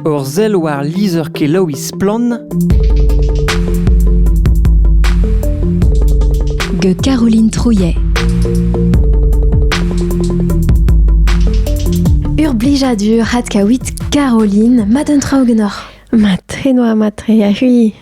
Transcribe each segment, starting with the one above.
Ur sell war lizher-kelaouiñ Splann! gant Caroline Trouillet. Ur blijadur adkaouit Caroline, mat un tra ugennoc'h. Mat, enoa mat re, a-hui.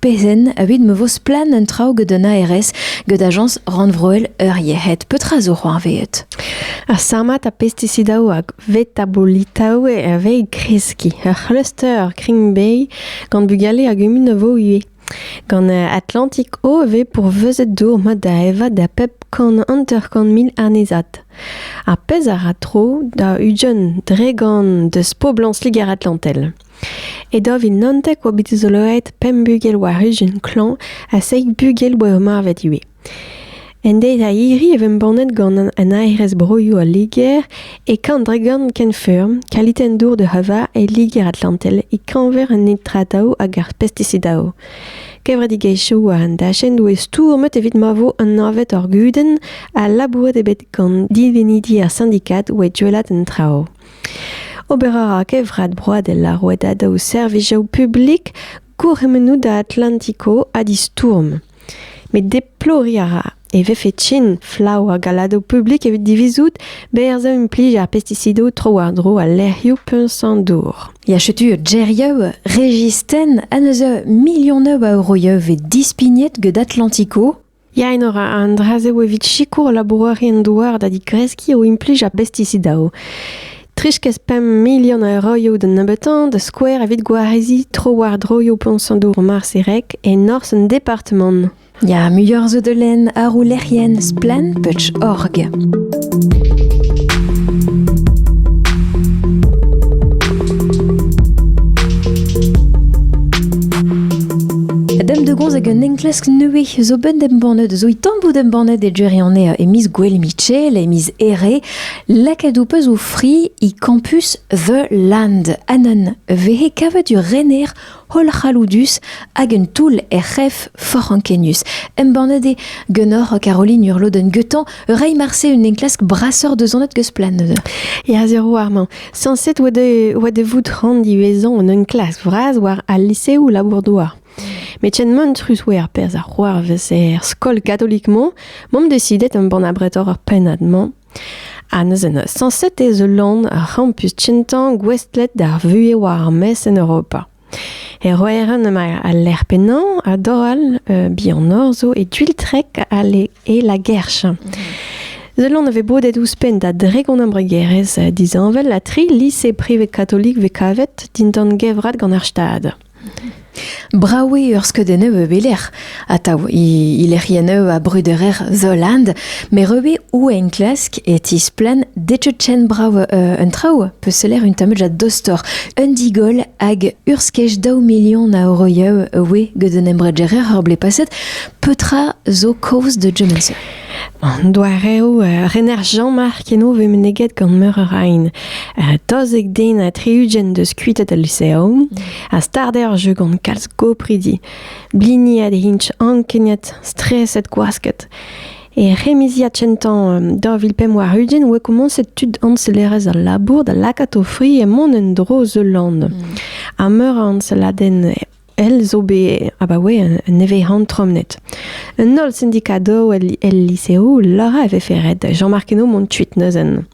Pezen, evit ma vo splann un traoù gant an ARS gant Ajañs rannvroel ur yec'hed, petra zo c'hoarvezet? Ar samat ha pestisidaoù hag vetabolitaoù a vez e kreskiñ. Ur c'hluster Green gant bugale a gumun a vo ivez. Gant Atlantic O e vez pourvezet dour mat da evañ da pep kant hanter-kant mil annezad. Ar pezh a ra tro da Ujon dre gant deus poblañs Liger-Atlantel. E daou vil naontek oa bet dizoloet pemp bugel war ijin klañv ha seizh bugel oa ur marvet ivez. En deiz-a-hiri e embannet gant an aerez broioù al Liger e Kandregan kenfeurm kalitenn dour de Hava e Liger-Atlantel e-keñver an nitrataoù hag ar pestisidaoù. Kevredigezhioù war an dachenn doe stourmet evit ma vo anavet ar gudenn ha labouret eo bet gant divenidi ar sindikad oa duellat an traoù. Ober a ra Kevrat Broadel ar rouedadaoù servijoù publik gourc'hemennoù da Atlantico ha distourm. Met deploriñ a ra e vefe trin flav ar galadoù publik evit divizout berzhañ implij ar pestisidoù tro-war-dro al lec'hioù puñs-an-dour. Ya setu gerioù Régis Ten en eus milion a euroioù vez dispignet get Atlantico. Yaen a ra an dra-se evit sikour labourerien-douar da digreskiñ o implij ar bestisidaoù. 3,5 milion a euroioù da nebeutañ da skouer evit gwareziñ tro-war-dro yoù poñsadour Marserek e norzh an departamant. Ya, muioc'h zo da lenn àr o lec'hienn Splann.org. hag un enklask nevez zo bet embannet, zo i tamm bout embannet e Jerry an e miz Gwell Mitchell, e miz Ere, lakaet ou peus o fri i campus The Land. Anan vehe kavet ur rener hollc'halloudus hag un toull er c'hef forc'h ankenius. Embannet eo ganeoc'h Caroline Urloden-Guetan reiñ marse un enklask brasoc'h deus an eus plan neuze. Ya, sur warmañ. Sañset oa de vout rand ivezhañ un enklask vras war al liseoù labour-douar. Met ken mantrus oa ar perzh a c'hoarvez er skol katolik-mañ, m'am desidet embann abretoc'h ar pennad-mañ Ha neuze sañset ez eus lann ur c'hampus kentañ gouestlet d'ar vuhez war ar maez en Europa. E Roeran emañ al lec'h pennañ ha dor all bihanoc'h zo e Gwiltrek e La Guerche. Ul lann a vez bodet ouzhpenn da dregont embregerezh disheñvel ha tri lise privet katolik vez kavet dindan gevrat gant ar Stad. Brav eo ur skeudenn e belec'h atav he lec'hiennoù a brederer Zoland, met re o enklask e tisplann detecen brav un traoù peus seller un tamm a-dostoc'h un digoll hag ur skej daou milion a euroioù oe get un embregerezh ur blez paset petra zo kaoz da German Sir. An doareoù uh, rener Jean-Marc eno vez meneget gant meur a rain. Uh, tozek den ha tri-ugent deus kuitet al lyceum a start eo ar jeu gant kalz gopridi. Bliniet int ankeniet, streset gwasket. E remiziad kentañ um, 2005 warugent oa komañset tud añselerezh al labour da lakaat o fri e mont en-dro zeul land. Mm. Ha meur a añseladenn elle zo bet abaoe un evezhan tromnet. Un holl syndicado el, lycéo lora e vefe ret Jean-Marc Henault mont tuit neuzen.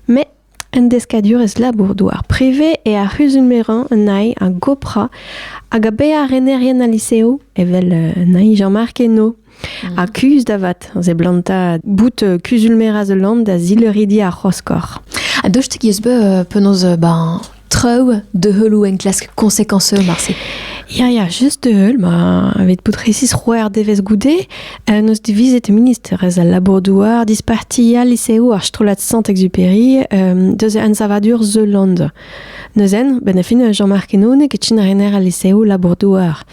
Mais un deskadurez labour-douar ar privé e ar c'huzulmeran un aï a gopra hag a be ar renerien al lycéo evel un aï Jean-Marc Henault. Ha kuzh da vat, a seblantañ bout euh, kuzul-merañ the land da zilridi ar c'hoskor. A dostik eus be euh, penaos euh, ben, traoù de heulou enklask conséquenceux marse. Ya, ya, just de heul, ma aved pout resis roer devez goude, euh, nos divizet ministerez al labour-douar disparti al liseoù ar strollad Sant-Exupéry euh, deus an savadur The Land. Neuzen, benn a fin Jean-Marc Henonek e tin rener al liseoù labour-douar.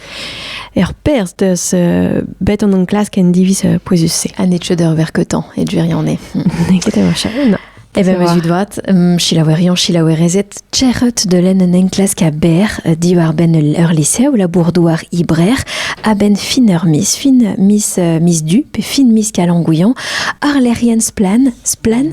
Er perz deus euh, bet an enklask en diviz euh, pouezus-se. Ha net eur verketan, et duirian eo. Nekete machin, na. Evel ma zud vat, um, chilaouerion, chilaouerezet, txerret de len un enklask a ber euh, diwar ben ur liseoù labour-douar ibrer a ben fin ur mis, fin mis, euh, mis du, pe fin mis kalangouillan, ar lerien splan, splan,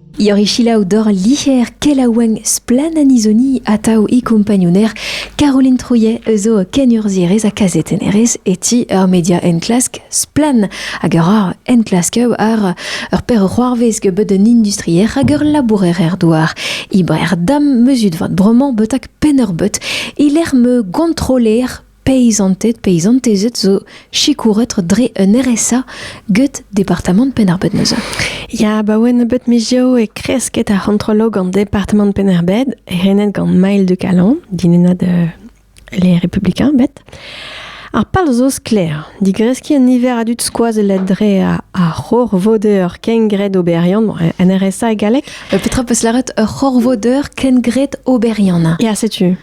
Iori selaou dor liher kelaouenn Splann-Anisoni atav e kompagnouner Caroline Trouillet eus o kenurzhierez ha kazetennerez e ti ur media enklask Splann hag a ra enklasker ar ur perc'hoarvez bet un industrier hag ur labourer er douar. Ibrer dam mezut vat bromañ betak penn ur bet e lec'h me gontroler Peizanted, peizantezed zo sikouret dre un RSA get departamant Penn-ar-Bed neuze. Ya, ba oen nebeut mizioù e kresket ar c'hontrolo gant departamant Penn-ar-Bed, renet gant Maël de Calon, dinennad euh, les Républicains, bet. Ar pal zo sklaer, digreskiñ un niver a dud skoazellet dre a ar c'horvodeur kengred oberiant, bon, un RSA e galleg. Euh, Petra peus lâret ur c'horvodeur kengred oberiant? Ya, setu.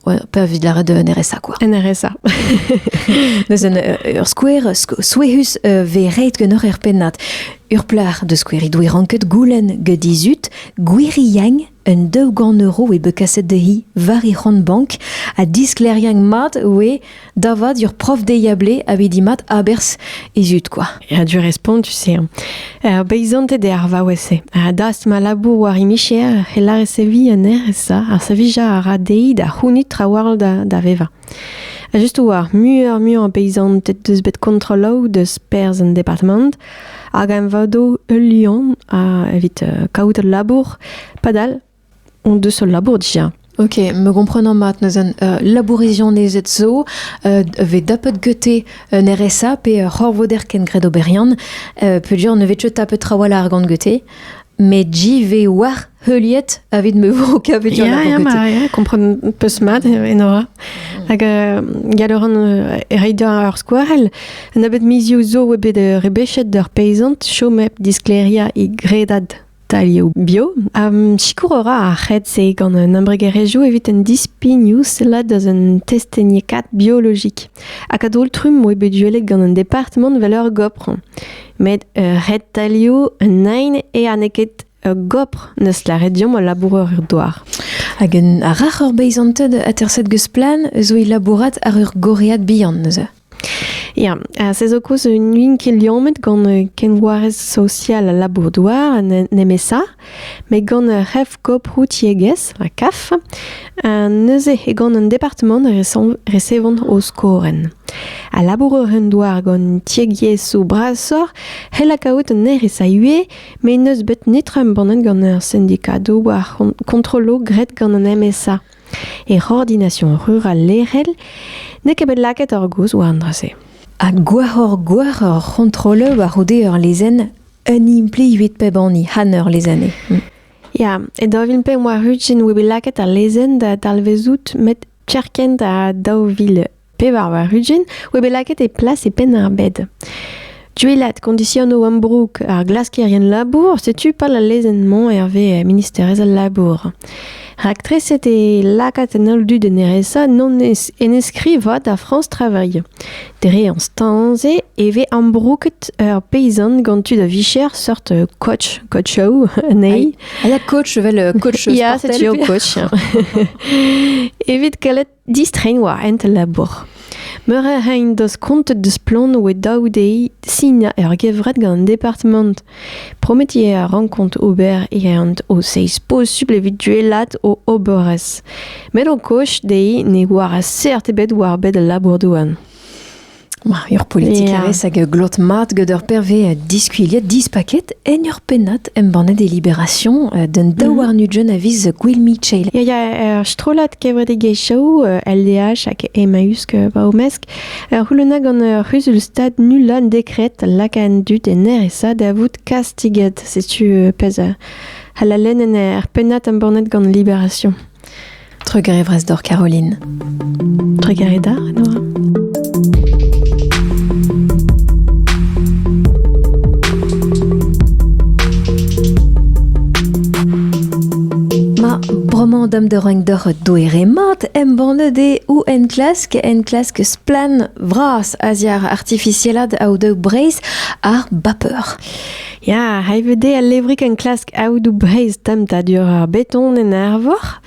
Pe evit lâret un RSA quoi. Un RSA. Neuze euh, ur skouer souezhus euh, ve reit gen ur er pennad. Ur plac'h de skouer he doe ranket goulenn get dizut gwir yang un daou gant euro e be kaset de hi war he c'hont bank ha diskleriañ mat oe Da vat, ur prof deiablé a vez mat aberzh e zud kwa. Ya, du respont, tu sais. Hein. Ar beizanted eo ar vaouez-se. Ha dast ma labour war imicher, e a resevi anezhe, ça. Ar savija a ra dezhi da c'hounit trawall da, da vevañ. Ha just war, muioc'h muioc'h beizanted deus bet kontrolloù deus perzh en departement, hag em vado ul lion a evit uh, kaout ul labour, padal on deus ul labour dija. Ok, me gomprenan mat neuze uh, labourizianezed zo uh, ve tapet gete un RSA pe ur c'horvoder ken gred oberiant uh, peudure ne vet tapet trawalc'h gant gete met ji ve war heuliet avit me vo kavet ya, ya, ma, ya, kompren peus mat enora mm. hag uh, galoran uh, reit ar skouarel un abet mizioù zo oa bet uh, rebechet d'ur peizant chom hep diskleria e gredad Talioù bio. Um, sikour a ra ar c'hed-se gant un embregerezhioù evit un dispignoù sellat deus un testeniekaat biologik. Hag a-daol-trumm oe bet duellet gant un departement vel ur gopr. Met uh, ret talioù un nain e aneket ur gopr neus laret diomp al laboureur er douar. Hag un rac'h ur beizanted aterset geus plan eus oe labourat ar ur goread bihan neuze. Ya, se zo koulz n'oun ket liammet gant kenvoarez sosial al labour-douar, nemesa, met gant ur c'hef-koprou tiegezh, ha CAF, neuze eo gant un departamant resevont o skorenn. A labourer un douar gant tiegiezhioù brasoc'h c'hell kaout un erez a ivez, met n'eus bet netra embannet gant ar sindikadoù war kontrolloù graet gant an MSA. E ordination rural lec'hel n'eo ket bet lakaet ar gozh war an dra-se. Ha gwashoc'h-gwashoc'h ur c'hontroleur war-c'houde ur lezenn un implijet pep hini han ur lezenn eo. Ya, e daou vil pemp war-ugent oa bet lakaet al lezenn da dalvezout met kerkent ha daou vil Pevar war-ugent oa bet lakaet e plas e Penn-ar-Bed. Duellat kondisionoù ambroug ar glaskerien labour, setu pal al lezenn-mañ hervez ministerez al labour. Raktreset eo lakaat an holl dud en RSA non en eskrivañ da France Travail. Dre an stañ-se e vez ambrouget ur peyzant gant tud a-vicher sort coach, coachoù anezhi. Ah, ya, coach, evel coach sportel. Ya, setu eo coach. Evit kalet Distreiñ war hent al labour. Meur a ray en deus kontet deus Splann oe daou dezhi sinañ ur gevred gant an departamant. Prometiñ a rankont ober e ent o seizh posubl evit duellat o oberezh. Met o koch dezhi ne oar seurt ebet war bed al labour-douar. Ur politikerez hag glot mat gant ur perve diskuilhet dispaket en ur pennad embannet e Libération d'un mhm. daouarn-ugent a viz Gwill Michel. Ya, ya, ur strollad kevredigezhioù LDH hag Emmaüs va omesk ur c'houluna gant ur c'huzul-stad nullan dekret lakaat dut en RSA da vout kastiget. Setu pezh halalen en er pennad embannet gant Libération. Trugarez doc'h Caroline. Trugareda, Nora. Roman dam de reng deur doere mat embannet e ou en klask en klask splan vras aziar artificielad au de breis ar bapeur. Ya, hay veut dezhe al levrig enklask aodoù Breizh temptadur ar beton en Arvor.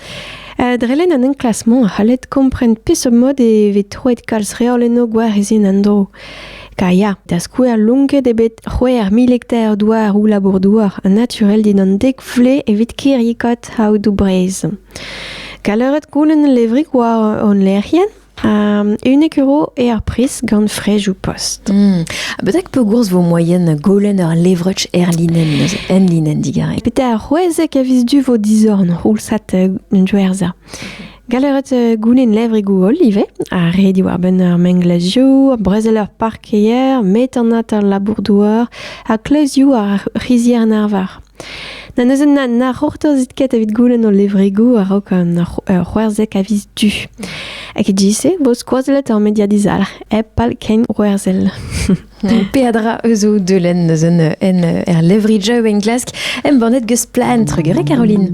Uh, drelen an enklasmant a c'hallet kompren peseurt mod e vez troet kalz reol eno gwarizien an dro. Ka ya, da skouer lonket e bet c'hwec'h mil hektar douar ou labour-douar naturel dindan dek vle evit kirrikot aodoù Breizh. Kaleret koulen levrig war hon lec'hienn Unnek euro eo ar priz gant frejoù post. Hmm. Betek pegourz vo moyen golen ur levrech er linen neuze, en linen digarek? Pete ar c'hwezek a vis du vo dizorn c'houlsat un joerza. Galeret euh, goulen levrigoù holl ivez, ha re diwar-benn ar menglazioù, brezel ar parkeier, metanat ar labour-douar, ha kleuzioù ar c'hizier-narvar. Na neuze na, na c'hortozit ket evit goulenn ho levregoù a-raok an ur c'hwerzek a viz du. Hag e bo skoazellet ur media dizalc'h hep pal kein c'hwerzhel. Peadra eus o deulenn eus un en er levri Joe en Glask embannet geus plaen Trugere Caroline.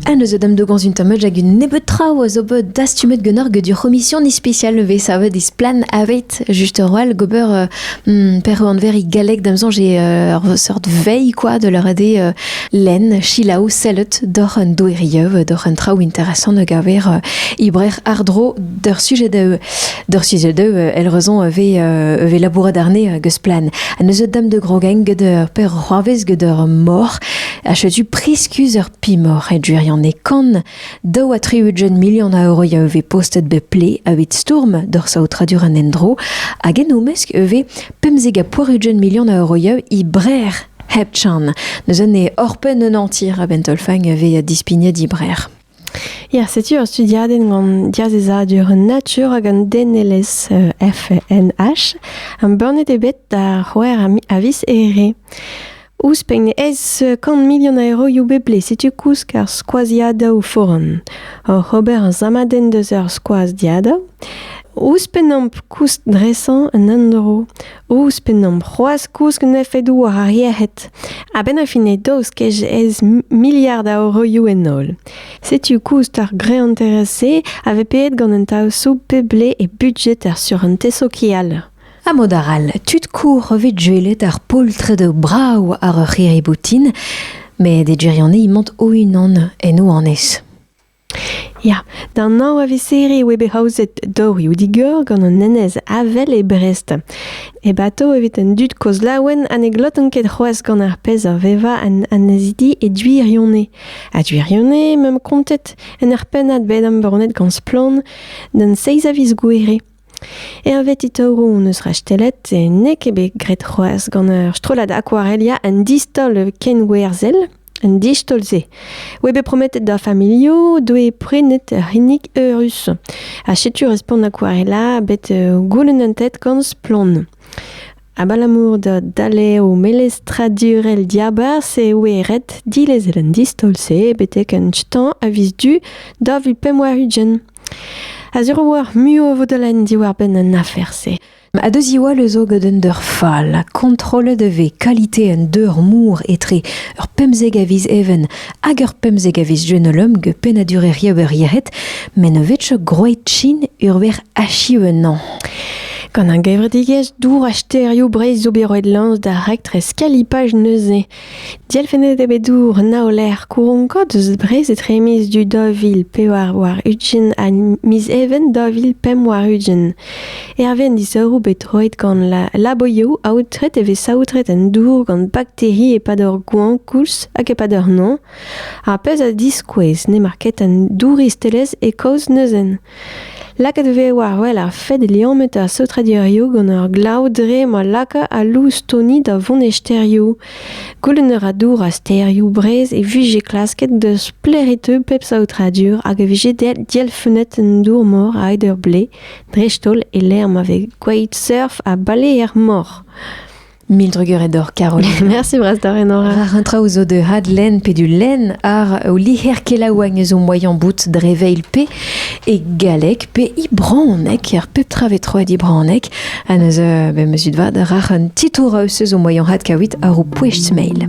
Ha neuze da'm dogañs un tamm hag un nebeud traoù a zo bet dastumet ganeoc'h get ur c'homision ispisial vez savet e Splann aveit juste ur wall gober euh, hmm, per anveriñ galleg da'm soñj eo euh, ur seurt veilh quoi de leur ade euh, lenn silaou sellet doc'h un doeriev doc'h un traoù interesant a gaver ibrer ardro d'ur sujet da d'ur sujet da el raison vez vez labourat arne get Splann ha neuze da'm de grogain get ur per c'hoarvez get ur mor a chetu priskuz ur Pimoc'h e gwirionez kan, daou ha tri-ugent milion a euro a vez postet bep ple evit stourm d'ur saotradur an endro, hag en o mesk e vez pemzek ha poar-ugent milion a euro i brer hep chan. Neus un e orpen un antir a bentolfang a vez dispignet i brer. Ya, setu ur studiadenn gant diazezadur natur hag an denelezh euh, FNH. Am burnet eo bet da c'houer a vis ere. Ouzhpenn ez eus kant milion a euroioù bepred setu koulz ar skoaziadoù foran. Oc'h ober ar samadenn deus ar skoaziadoù, ouzhpennomp koust dresañ un endro, ouzhpennomp c'hoazh kouskin efedoù war ar yec'hed. A-benn ar fin eo daoust kej ez miliard a euroioù en holl. Setu koust ar greanterezh-se a vez peet gant an taosoù pep ble e budjet ar surentez sokial. Ha mod arall, tud kour vez gwelet ar poltred brav àr ur c'hirri-boutin, met e gwirionez emañ o-unan en o annez. Ya, da nav a viseri e oe bet aozet dorioù digor gant an enez Avel e Brest. E bato evit an dud kozh laouen ha ne glotan ket c'hoazh gant ar pezh a vevañ an annezidi e Duirionez. Ha Duirionez m'am kontet en ur pennad bet embannet gant Splann d'an seiz a viz gouere. Hervez Itoru hon eus rastellet e n'eo ket bet graet c'hoazh gant ur strollad akwarelia un distaol kenwerzhel un distaol-se oa bet prometet d'ar familhoù doe prenet ur c'hinnig eurus ha setu respont akwarela bet uh, goulennet gant Splann. Abalamour da daleo melestradurel diabarzh e oe ret dilezel an distaol-se betek un stañ a viz du da vil pemp war ugent. A-zeur oar muiañ a vo da lenn diwar-benn an afer-se. A deus Iwal eus o gant un deur fall ha kontrollet e vez kalite un deur mour etre ur pemzek a viz even hag ur pemzek a viz jenolum ge pennadur er riebeurieret, met ne vetcho groet chin urver achiv ennañ. Gant an gevredigezh dour ha stêrioù Breizh zo bet roet lañs da raktres kalipaj neuze. Dielfennet eo bet dour Naoler Kouronko deus Brest etre miz du daou vil pevar warn-ugent ha miz Even daou vil pemp warn-ugent. Hervez an disoc'hoù bet roet gant la laboioù aotret e vez saotret an dour gant bakteri e-pad ur goañv koulz hag e-pad ur noz. Ar pezh a diskouez n'emañ ket an douristelezh e kaoz neuzen. Lakaet e vez war-wel ar fed liammet ar saotradurioù gant ar glav dre ma laka al loustoni da vont e stêrioù. Goulenn a ra dour ar stêrioù Breizh e vije klasket da sklaeritañ pep saotradur hag e vije dielfennet an dour-mor a-hed ur blez, dreist-holl e-lec'h ma vez gwelet surf ha baleer-mor. Mil drugarez d'or, Caroline. Merci brastare, Nora. War un traoù zo de hadlen pe du len ar o liher kelaouagn eus o moaien bout dre veil pe e galleg pe i braonek, ar pep tra vetroet i braonek, ha neus euh, be meus vad rac'h un titour eus eus o moaien had kawit ar o poest mail.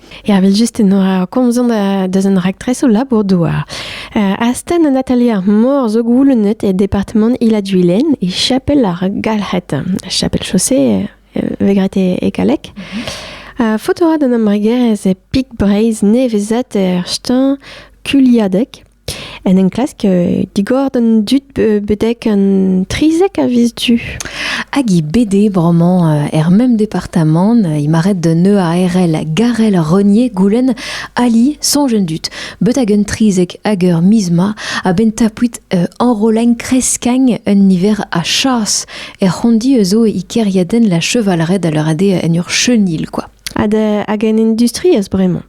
Ervel-just enoa komzon deus an raktres o labour-douar. Uh, astenn an atelier ar mor zo goulennet e departement Ila-Duilen e chapel ar Galc'het. Chapel chaussée euh, vegret e, e kalek. Uh, foto ad an embregerezh e Pik Breizh nevezat er stan Kuliadek. En enklask euh, digor d'an dud betek an 30 a vis du. Hag i BD vraiment euh, er même département, euh, il m'arrête de neu a RL Garel Renier Goulen Ali son jeune dut. Betak un 30 ager misma a ben tapuit enroleng kreskang un hiver a chas er rondi eus o ikeriaden la chevalret à leur ade en ur chenil quoi. Ad hag en industrie as bremañ.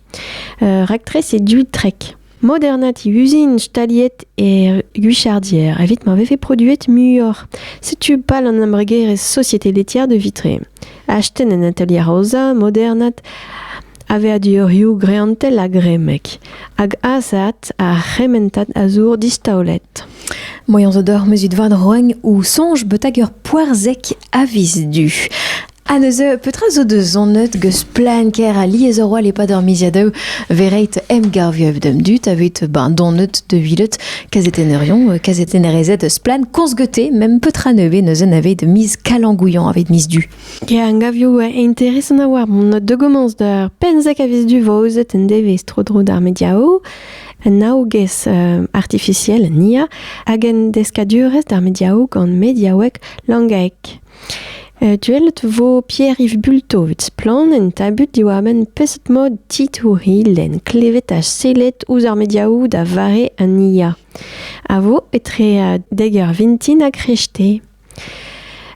Euh, Raktres e du trek. Modernat e uzin staliet e Guichardier evit ma vefe produet muioc'h. Setu pal an embregerezh Société laitière de Vitré. Astenn en atelier aozañ modernat aveadurioù greantel ha gremek, hag azaat ar c'hementad a zour distaolet. Moyans zo d'hor mezut vad roagn ou sonj beutag ur poarzek avis du. Ha neuze, petra zo da zonet geus plan ker alies a roal e-pad ar miziadoù verreit emgavioù d'am dud aveit ben donet de vilet kazetenerion, euh, kazetenerezed eus plan korzgete, mem petra nevez neuzen aveit miz kalangouillan aveit miz du. Ya, angavioù euh, interesant a war mon de gommence d'ar penzek a vis du vaozet en devez tro-dro d'ar mediao, un aogez euh, artificiel nia, hag en deskadurez d'ar mediao gant mediaouek langaek. Duellet vo Pierre-Yves Bulto evit Splann! en tabut diwar-benn peseurt mod titourilh lenn klevet ha sellet ouzh ar mediaoù da vare an IA a vo etre dek eur vintin ha kreñvte.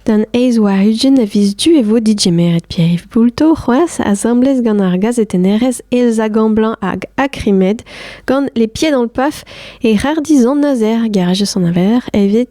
D'an eizh war ugent a viz du e vo digemeret Pierre-Yves Bulto c'hoazh asambles gant ar gazetennerez Elsa Gamblanc hag Akrimed gant Les Pieds dans le Paf e rar dizan azer garez an aveler evit